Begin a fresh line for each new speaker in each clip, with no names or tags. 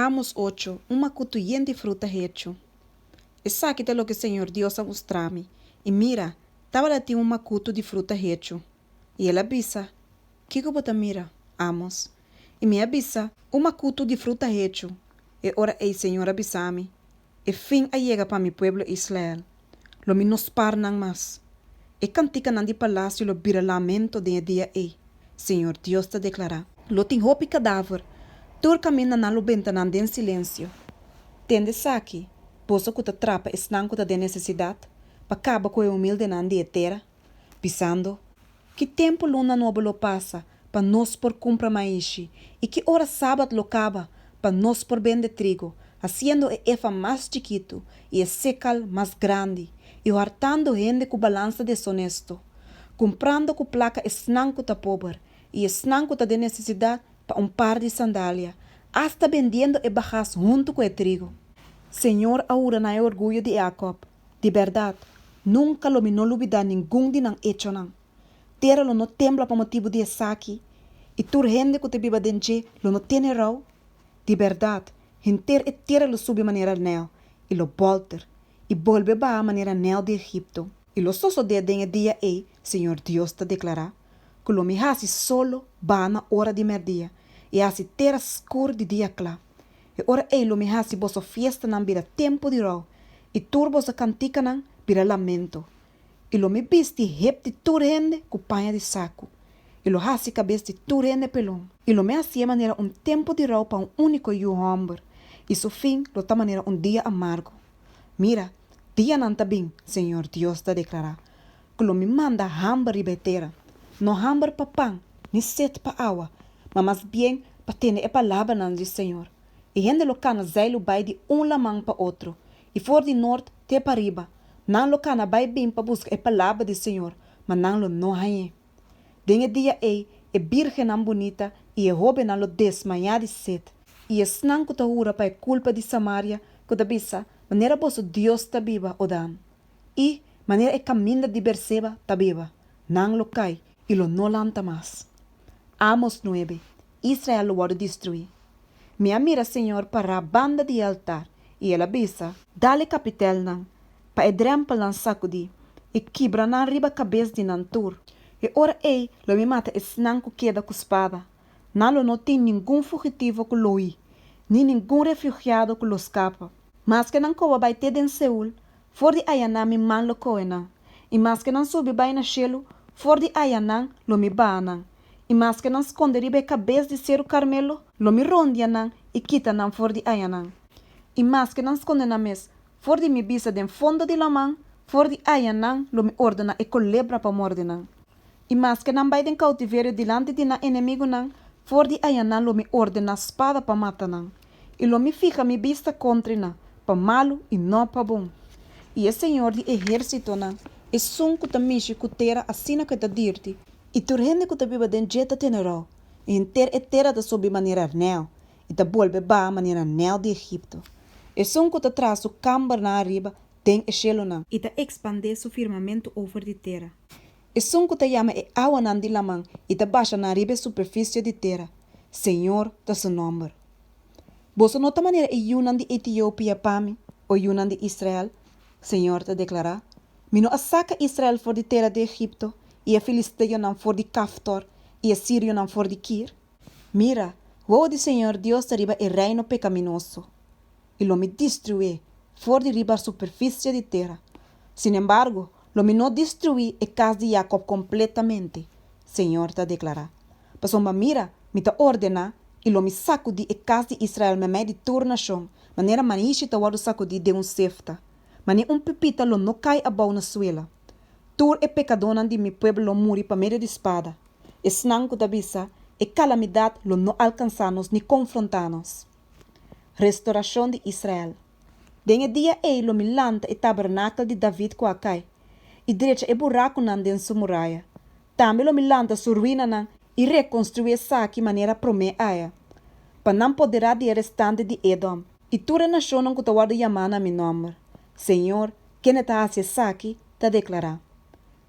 Amos ocho, un makutu yen di fruta hechu. Esaki ta loke Señor Dios a mustra mi, i mira, tabata tin un makutu di fruta hechu. I el a bisa, Kiko bo ta mira, Amos? I mi a bisa, Un makutu di fruta hechu. E ora ei Señor a bisa mi, E fin a yega pa mi pueblo Israel. Lo mi no spar nan mas. E cantikanan di palacio lo bira lamento den e dia ei, Señor Dios ta declara. Lo tin hopi cadaver tur caminda na lo bentanan den silencio. Tende esaki, boso cu ta trapa esnan cu ta den necesidad, pa caba cu e humildenan di e tera. pisando, Ki tempu luna nobo lo pasa pa nos por kumpra maishi, i ki ora sabat lo kaba pa nos por bende trigu, hasiendo e efa mas chikitu i e sekal mas grandi, i hoartando hende ku balansa desonesto, kumprando ku plaka esnan ku ta pober i esnan ku ta den nesesidat pa un par di sandalia, asta bendiendo e bagas huntu ku e trigu? Señor a hura na e orguyo di e Akòb, Di bèrdat, nunka lo mi no lo bidá ningun di nan echonan. Tera lo no tembla pa motibu di esaki, i tur hende ku ta biba den dje lo no tene rou? Di bèrdat, henter e tera lo subi manera nèl, i lo bòlter, i bolbe baha manera nèl di Egipto. I lo sosodé den e dia ei, Señor Dios ta deklará, ku lo mi hasi solo baha na ora di mèrdia, i hasi tera skur di dia kla. E ora ei lo mi hasi boso fiestanan bira tempu di rou, i tur boso kantikanan bira lamento. I lo mi bisti hep di tur hende ku paña di saku, i lo hasi kabes di tur hende pelon. I lo mi hasié manera un tempu di rou pa un úniko yu hòmber, i su fin lo ta manera un dia amargu. Mira, dianan ta bin, Señor Dios ta deklará, Cu lo mi manda hamber riba e tera, no hamber pa pan, ni set pa awa, ma mas bien pa tene e palabranan di Señor. E hende lo cana zeilu bai di un laman pa otro, y for di noord te pariba, nan lo cana bai bin pa busca e palabra di Señor, ma nan lo no hañ'é. Den e dia ei, e birgennan bunita y e hobennan lo desmaya di set. Y esnan cu ta hura pa e culpa di Samaria, cu ta bisa, Manera boso Dios ta biba, Odam, i manera e kaminda di Beerseba ta biba, nan lo kai i lo no lanta mas. Amos nuebe, Israel lo wòrdu destruí. Mi a mira señor pará banda di e altar, i el a bisa, Dal e kapitèlnan pa e drèmpelnan sakudí, i kibra nan riba kabes di nan tur. E ora ei lo mi mata esnan ku keda ku spada, nan lo no tin ningun fugitivo ku lo hui, ni ningun refyugiado ku lo skapa. Maske nan koba bai te den Seul, for di ayanan mi man lo kohe nan, i maske nan subi bai na shelu, for di ayanan lo mi baha nan, i maske nan skonde riba e kabes di Seru Karmelo, lo mi rondia nan i kita nan for di ayanan, i maske nan skonde nan mes for di mi bista den fondo di laman, for di ayanan lo mi ordena e kolebra pa morde nan. I maske nan bai den koutiverio dilanti di nan enemigunan, for di ayanan lo mi ordená spada pa mata nan, i lo mi fiha mi bista kontri nan, pa malu i no pa bon. I e Señor di ehérsitonan, Esun ku ta mishi ku tera asina ku e ta dirti, i tur hende ku ta biba den dje ta tene rou, i henter e tera ta subi manera rnèu, i ta bolbe baha manera rnèu di Egipto. Esun ku ta traha su kambernan ariba den e shelunan. I ta ekspandé su firmamentu over di tera. Esun ku ta yama e awanan di laman i ta basha nan riba e superfisio di tera, Señor ta su nòmber. Boso no ta manera e yunan di Etiopia pa mi, o yunan di Israel, Señor ta deklará. Mi no a saka Israel for di tera di Egipto, i e filisteonan for di Kaftor, i e sirionan for di Kir? Mira, wou di Señor Dios ta riba e reino pekaminoso, i lo mi destruí for di riba superficie di tera. Sin embargo, lo mi no destruí e cas di Jacob completamente, Señor ta declará. Pasobra mira, mi ta ordená i lo mi sacudí e cas di Israel meimei di tur nacion, manera maishi ta wordu sacudí den un sefta, ma ni un pipita lo no cai abou na suela. Tur e pecadónan di mi pueblo lo muri pa medio di spada, esnan cu ta bisa, E calamidad lo no alcansá nos ni confrontá nos. Restorashon di Israel. Den e dia ei lo mi lanta e tabernakel di David ku a kai, i drecha e burakunan den su muraya. Tambe lo mi lanta su ruinanan i rekonstruí esaki manera promé aya, pa nan poderá di e restante di Edom i tur e nashonnan ku ta wòrdu yamá na mi nòmber, Señor, kende ta hasi esaki, ta deklará.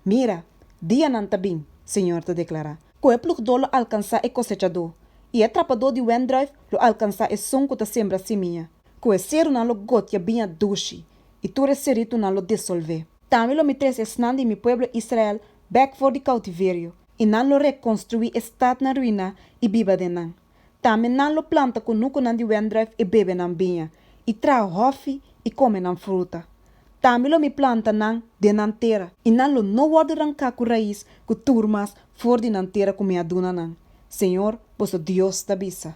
Mira, dianan ta bin, Señor ta deklará, Ku e plugdó lo alkansá e kosechadó, i e trapadó di wèndruif lo alkansá e son ku ta sembra simia. Ku e serunan lo gotia biña dushi, i tur e seritunan lo disolvé. Tambe lo mi trese esnan di mi pueblo Israel bèk for di koutiverio, i nan lo rekonstruí e stadnan ruiná i biba den nan. Tambe nan lo planta kunukunan di wendruif i bebe nan biña, i traha hòfi i kome nan fruta. Tambe lo mi planta nan den nan tera, i nan lo no wòrdu ranká ku rais ku tur mas for di nan tera ku mi a duna nan, Señor, boso Dios ta bisa.